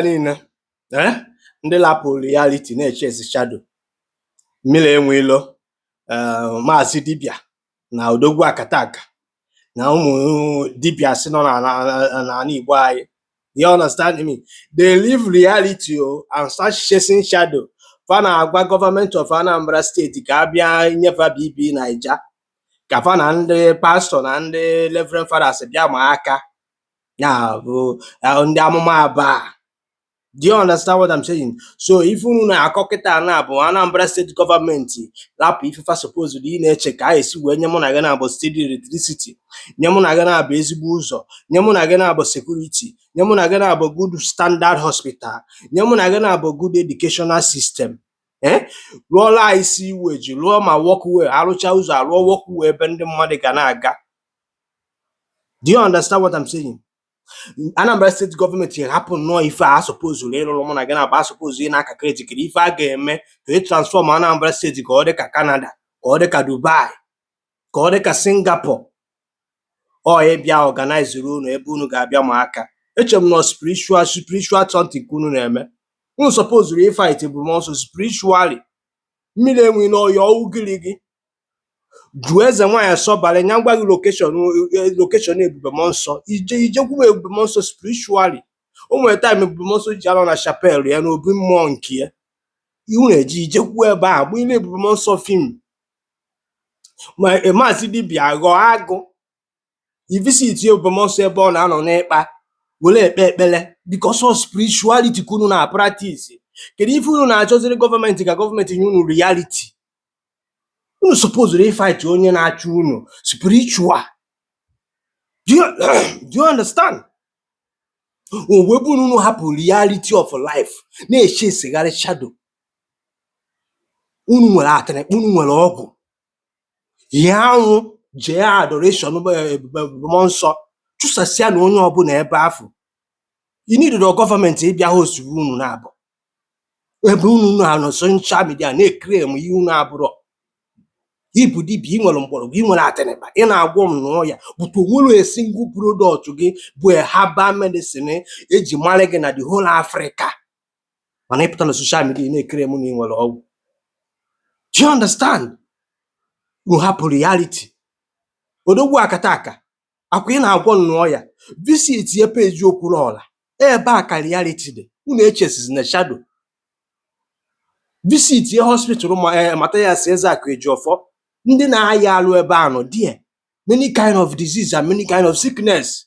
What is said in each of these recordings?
niile eh, ndị lapụ reality na-echesizi shadow mmiri enwe ilo eh, maazị dibịa na odogwu akataka na ụmụ dibịa si nọ na- na- na- n'ala igbo anyị you understand me they leave reality o and start chasing shadow fa na-agwa gọọmenti of anambra steeti ka a bịa nye fa bb naija ka fa na ndị pastọ na ndị reverend fathers bịa ma aka Now, uh, uh, ndị amụma aba do you understand what I'm saying? so ife unu na-akọ kịta na bụ Anambra steeti gọọmenti lapụ ife fa supposed ị na-eche ka e si wee nye mụ na gị na-abụ steady electricity nye mụ na gị na-abụ ezigbo ụzọ nye mụ na gị na-abụ security nye mụ na gị na-abụ good standard hospital nye mụ na gị na-abụ good educational system ee rụọlụ anyị sewage rụọ ma walkway a rụcha ụzọ a rụọ walkway ebe ndị mmadụ ga na-aga do you understand what I'm saying Anambra steeti gọọmenti hapụ nnọọ ife a sopozuru ịrụrụ mụ na gị na-abụ a sopozuru ị na-calculate ife a ga-eme ka e transfọm Anambra steeti ka ọ dị ka Canada ka ọ dị ka Dubai ka ọ dị ka Singapore ọ bịa ọganaịziri unu ebe unu ga-abịa ma aka eche m na spiritual spiritual something ka unu na-eme unu sopozuru ịfait ebube mmụọ nsọ spiritually mmiri enwe ilo ya ọwụ gịrị gị jụọ eze nwaanyị asọbara ya gwa gị lokeshọn lokeshọn ebube mmụọ nsọ i jekwue ebube mmụọ nsọ spiritually o nwere taịm ebube mmụọ nsọ ji anọ na chapel ya na obi mmụọ nke ya iwu na-eji i jekwue ebe ahụ bụ ile ebube mmụọ nsọ fim ma maazị dibịa ghọọ agụ i visitie ebube mmụọ nsọ ebe ọ na-anọ n'ikpa were ekpe ekpere because of spirituality ka unu na-practice kedu ife unu na-achọziri gọọmenti ka gọọmenti nye unu reality unu supposed ịfight onye na-achụ unu spiritual do you, do you understand ebe bụ na unu hapụ reality of life na-echesigharị shadow unu nwere atịrịkpa unu nwere ọgwụ hie anwụ jee adoration um, eh, ebube mmụọ nsọ chụsasịa na onye ọbụla ebe afụ inidoro gọọmenti ịbịa hosturu unu na-abụ ebe unu na-anọ soshal midia na-claim ihe unu abụrọ ị bụ dibịa ị nwere mgbọrọgwụ ị nwere atịrịba ị na-agwọ ṅụọ ya butuo o nwere a single product gị bụ herbal medicine e ji mara gị na the whole Africa mana ị pụta na soshal midia ị na-claim na ị nwere ọgwụ do you understand unu hapụ reality odogwu akataka akwa ị na-agwọ ṅụọ ya visitie peji okwuluọra ebe a ka reality dị unu echesizina shadow visitie hospital ma eh, mathias ezeakụ ejiọfọ ndị na-aya arụ ebe a nọ die many kind of disease and many kind of sickness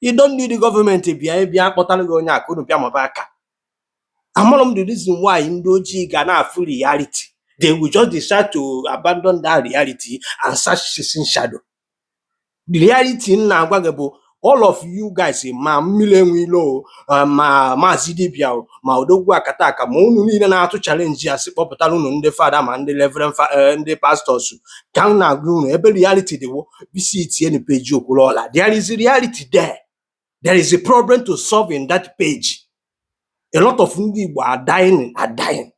you don't need the government bịa ị bịa kpọtara gị onye a ka unu bịa maba aka amụrụ m the reason why ndị ojii ga na-afụ reality they will just decide to abandon that reality and start chasing shadow the reality m na-agwa gị bụ all of you guys ma Mmiri enwe ilo eh, ma maazị dibia o ma odogwu akata aka ma unu niile na-atụ challenge a sị kpọpụtara unu ndị fada ma ndị reverend fa- eh, ndị pastọs ka m na-agwa unu ebe reality dị o visitienụ page Okwuluọra there is reality there there is a problem to solve in that page a lot of ndị igbo are dying are dying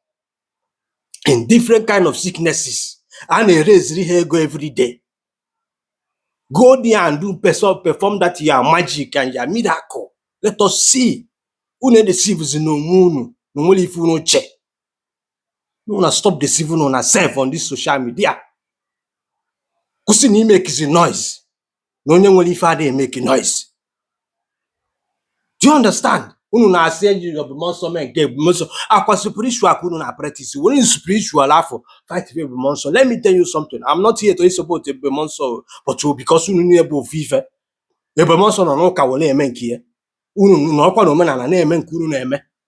in different kind of sicknesses a na-eraiseri ha ego every day Go there and do perform, perform that your magic and your miracle. Let us see. Unu edeceivezina onwe unu na o nwere ife unu che. Unu stop deceiving una self on this social media. Kwụsị na imakezi noise na onye nwere ife adịghị emake noise. do you understand unu na-asị ebube mmụọ nsọ mee nke ebube mmụọ nsọ ọkwa spiritual ka unu na-apractice werenụ spiritual afụ fight ebube mmụọ nsọ let me tell you something i'm not here to support ebube mmụọ nsọ o, but ọ because unu niile bụ ofu ife ebube mmụọ nsọ nọ n'ụka were eme nke ya unu nọkwa na omenala na-eme nke unu na-eme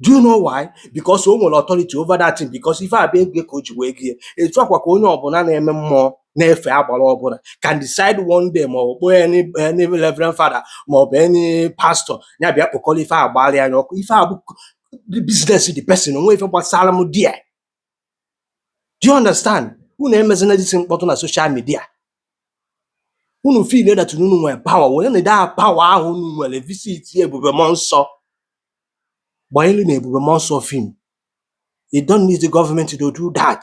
do you know why because o nwere authority over that thing because ife a bụ ego ka o ji wee go ye etu a kwa ka onye ọbụla na-eme mmụọ na-efe agbara ọbụla can decide one day ma ọ bụ any any reverend father ma ọ bụ any pastor ya bịa kpọkọrọ ife a gbara ya ọkụ ife a bụ business the person o nwe ife gbasara m dị ya Do you understand? Unu emezina this mkpọtụ na social media. Unu feel that na unu nwere power, werenụ the power ahụ unu nwere visit ebube mmụọ nsọ. Gbanyelu na ebube mmụọ nsọ film. You don't need the government to do that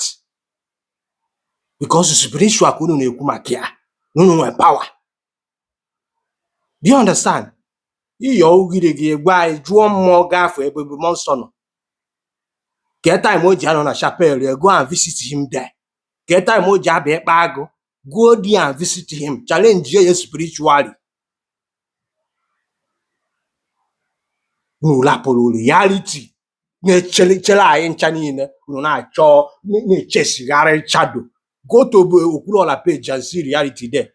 because spiritual ka unu na-ekwu maka ya na unu nwere power. Do you understand? Ị yọ ugiri gị gwa anyị jụọ mmụọ ga-afụ ebe ebube mmụọ nsọ nọ. Kee time o ji anọ na chapel ya go and visit him there. Kee time o ji abịa ịkpa agụ go there and visit him challenge ya spiritually. Unu rapụrụ reality na-eche chere anyị ncha niile unu na-achọ na-echasegharị shadow go to bụ Okwuluọra page and see reality there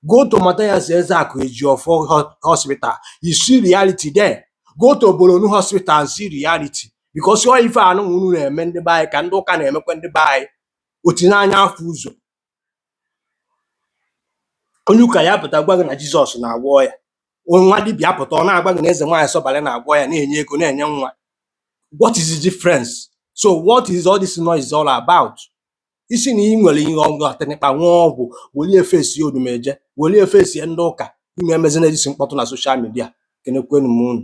go to Mathias Ezeaku Ejiofor ho- hospital you see reality there go to Boronu hospital and see reality because ọ ife anụ unu na-eme ndị be anyị ka ndị ụka na-emekwa ndị be anyị o tinye anya afụ ụzọ onye ụka ya pụta gwa gị na jizọs na-agwọ ọya nwa dibịa pụta ọ na-agwa gị na eze nwaanyị sọbalị na-agwọ ọya na-enye ego na-enye nwa what is the difference so what is all this noise all about ị sị na ị nwere ihe ọgụ atịnịkpa nwa ọgwụ welie fesie odumeje welie fesie ndị ụka ime emezi na-ejisi mkpọtụ na soshal midia kenekwenu m unu